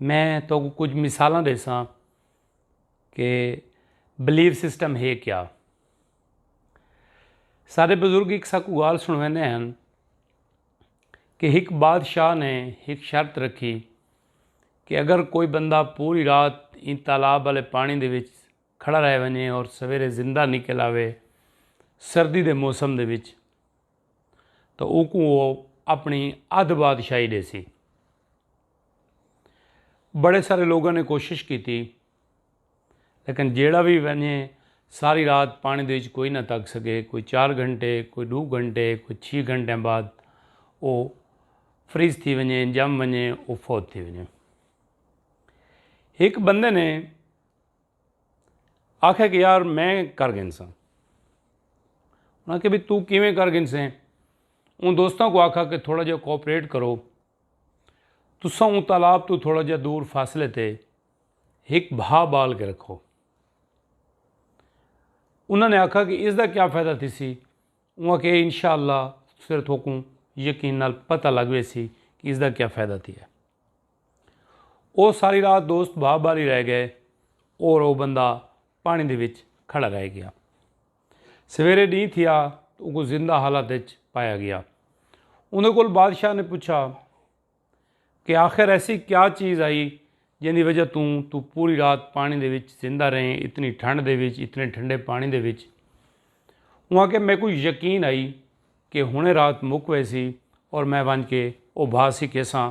میں تہاکوں کجھ مثالاں ڈیساں کہ بلیف سسٹم ہے کیا سارے بزرگ ایک ساکو گال سنویندے ہیں کہ ایک بادشاہ نے ایک شرط رکھی کہ اگر کوئی بندہ پوری رات ان تالاب والے پانی دے وچ کھڑا رہ ونجے اور سویرے زندہ نکل آوے سردی دے موسم دے وچ تاں اوکوں او اپݨی ادھ بادشاہی ݙیسی۔ بڑے سارے لوگاں نے کوشش کیتی لیکن جیڑھا وی ونجے ساری رات پاݨی دے وچ کوئی نہ تک سکے کوئی چار گھنٹے کوئی ݙو گھنٹے کوئی چھی گھنٹے بعد او فریز تھی ونجے جم ونجے او فوت تھی ونجے ہک بندے نے آکھیا کہ یار میں کر گنساں انہاں کہ بھی تو کیویں کر گنسیں ان دوستاں کو آکھا کہ تھوڑا جہا کوپریٹ کرو تساں اون تالاب تو تھوڑا جہا دور فاصلے تے ہک بھا بال کے رکھو انہاں نے آکھا کہ اس دا کیا فائدہ تھی سی انہاں کہ انشاءاللہ صرف تھوکوں یقین نال پتہ لگ وے سی کہ اس دا کیا فائدہ تھی ہے او ساری رات دوست بھا بالی رہ گئے اور او بندہ پانی دے وچ کھڑا رہ گیا سویرے ڈینہ تھیا تو اونکو زندہ حالت وچ پایا گیا اوندے کول بادشاہ نے پوچھا کہ آخر ایسی کیا چیز آئی جن دی وجہ توں تو پوری رات پانی دے وچ زندہ رہیں اتنی ٹھنڈ دے وچ اتنے ٹھنڈے پانی دے وچ اوناں کہ میں کوئی یقین آئی کہ ہنے رات مک ویسی اور میں ونج کے او بھا سکھے ساں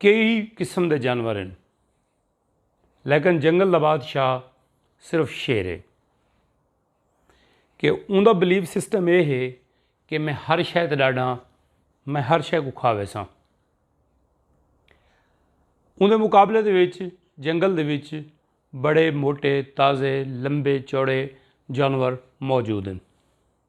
کئی قسم دے جانور ہن لیکن جنگل دا بادشاہ صرف شیر ہے کہ اون دا بلیف سسٹم اے ہے کہ میں ہر شے تے ڈاڈاں میں ہر شے کو کھا ویساں اون دے مقابلے دے وچ جنگل دے وچ بڑے موٹے تازے لمبے چوڑے جانور موجود ہیں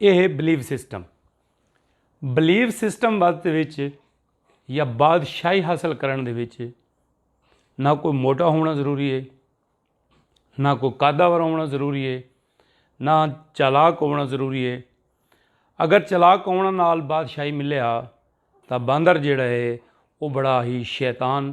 یہ ہے بلیو سسٹم بلیو سسٹم وقت یا بادشاہی حاصل کرن دے وچ نہ کوئی موٹا ہونا ضروری ہے نہ کوئی قادور ہونا ضروری ہے نہ چالاک ہونا ضروری ہے اگر چالاک ہونا نال بادشاہی ملیا تو باندر جڑا ہے وہ بڑا ہی شیطان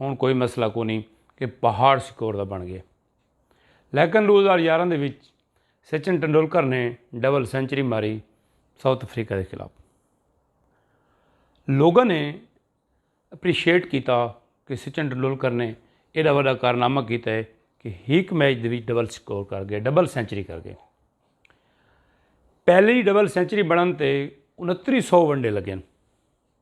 ہن کوئی مسئلہ کونی کہ پہاڑ سکور دا بن گئے لیکن دو ہزار یارہ دے وچ سچن ٹنڈولکر نے ڈبل سینچری ماری ساؤتھ افریقہ دے خلاف لوگوں نے اپریشیٹ کیتا کہ سچن ٹنڈولکر نے ایڈا وڈا کارنامہ کیتا ہے کہ ہیک میچ دے وچ ڈبل سکور کر گئے ڈبل سینچری کر گئے پہلی ڈبل سینچری بنن تے انتری سو ونڈے لگے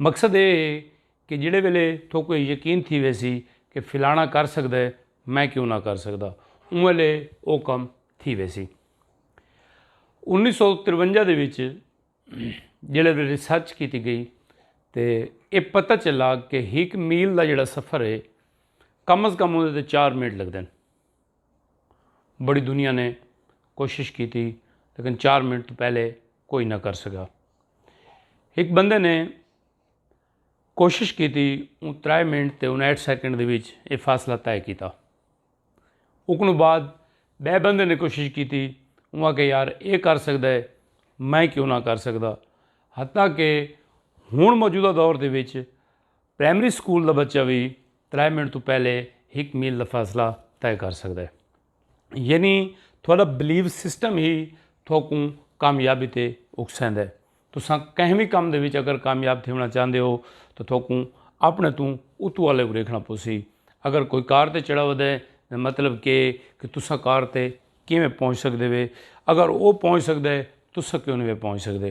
مقصد ایہ ہے کہ جیڑھے ویلے تھوکوں ایہ یقین تھی ویسی کہ فلانا کر سگدا ہے میں کیوں نہ کر سگدا اوں ویلے او کم تھی ویسی۔ انیس سو ترونجا دے وچ جیڑھے ویلے ریسرچ کیتی گئی تے ایہ پتہ چلا کہ ہک میل دا جیڑھا سفر ہے کم از کم اوندے تے چار منٹ لگدن۔ بڑی دنیا نے کوشش کیتی لیکن چار منٹ تو پہلے کوئی نہ کر سکا ایک بندے نے کوشش کیتی ان ترائے منٹ تے انہٹھ سیکنڈ دے وچ یہ فاصلہ طے کیتا اکنو بعد بے بندے نے کوشش کیتی انہاں کہ یار اے کر سکدا ہے میں کیوں نہ کر سکدا حتیٰ کہ ہن موجودہ دور دے وچ پرائمری سکول دا بچہ بھی ترے منٹ توں پہلے ہک میل دا فاصلہ طے کر سکدا ہے یعنی تھوڑا بلیو سسٹم ہی تھوکوں کامیابی تے اکسیندا ہے تساں کہیں بھی کم دے وچ اگر کامیاب تھیونا چاہندے ہو تو تھوکوں اپنے توں اتو والے کو دیکھنا پوسی اگر کوئی کار تے چڑھا ودے مطلب کہ کہ تساں کار تے کیویں پہنچ سکدے وے اگر او پہنچ سکدا ہے تساں کیوں نہیں وے پہنچ سکدے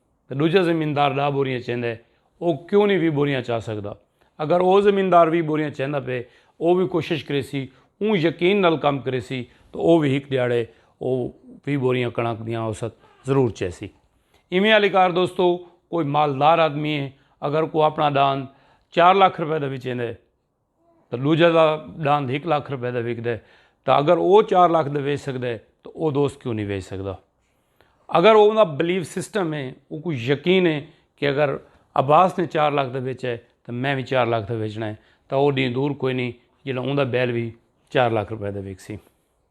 تے ڈوجھا زمیندار ڈاہ بوریاں چیندے او کیوں نی ویہہ بوریاں چا سگدا۔ اگر او زمیندار ویہہ بوریاں چیندا پئے او وی کوشش کریسی اوں یقین نال کم کریسی تے او وی ہک ڈیہاڑے او ویہہ بوریاں کڑنک دیاں اوست ضرور چیسی۔ ایویں آلی کار دوستو کوئی مالدار آدمی اگر کو اپنا ڈاند چار لکھ روپے دا وی چیندے۔ تے ݙوجھے دا ݙاند ہک لکھ روپے دا وکدے تاں اگر او چار لکھ دا ویچ سڳدے تاں او دوست کیوں نہیں ویچ سڳدا اگر او دا بلیف سسٹم ہے او کو یقین ہے کہ اگر عباس نے چار لکھ دا ویچ ہے تاں میں بھی چار لکھ دا ویچنا ہے تاں او ݙینہ دور کوئی نہیں جیڑھا اوندا بیل بھی چار لکھ روپے دا وکسی